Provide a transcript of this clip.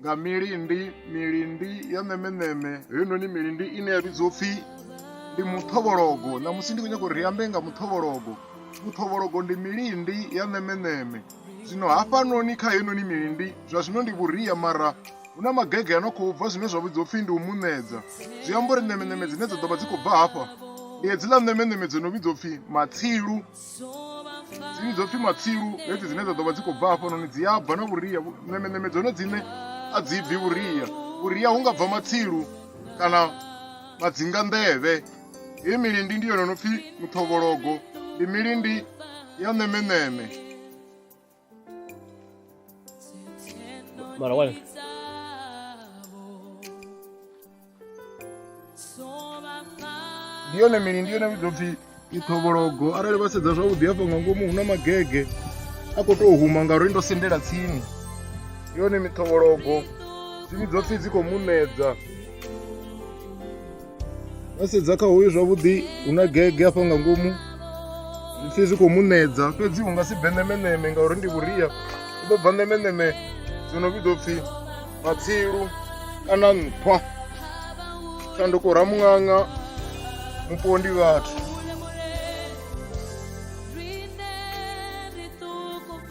nga milindi milindi ya ṋemeṋeme heinoni milindi ine ya vhidzwa upfhi ndi muṱhovhologo ṋamusi ndi khou nyanga uri ri ambe nga muṱhovhologo muṱhovhologo ndi milindi ya ṋemeṋeme zwino hafhanoni kha heinoni milindi zwa zwino ndi vhuria mara hu na magege a no khou bva zwine zwa vhidzwa upfhi ndi u muṋedza zwi amba uri ṋemeṋeme dzine dza ḓo vha dzi khou bva hafha ndi hedziḽa ṋemeṋeme dzo no vhidzwa upfhi matsilu dziṅwe dzo pfhi matsilu hedzi dzine dza ḓo vha dzi khou bva hafhanoni dzi a bva na vhuria ṋemeṋeme dzone dzine a dzi bvi vhuria vhuria hu nga bva matsilu kana madzinga nḓevhe heyi milindi ndi yone no pfhi muṱhovhologo ndi milindi ya ṋemeṋeme Bueno, bueno. ndiyone mini ndiyone vhudopfi ithobologo arali vha sedza zwavhuḓi hafha nga ngomu hu na magege a khou tou huma ngauri ndo sendela tsini yone mithobologo dzimi dzopfi dzi khou munedza vha sedza kha hoyu zwavhuḓi hu na gege afha nga ngomu zwipfi zwi khou munedza fhedzi hu nga si bve ṋemeṋeme ngauri ndi vhuria u ḓo bva ṋemeṋeme zwi no vhidzwa pfhi matsilu kana nṱhwa shanduko ra muṅaṅa mupondi vhathu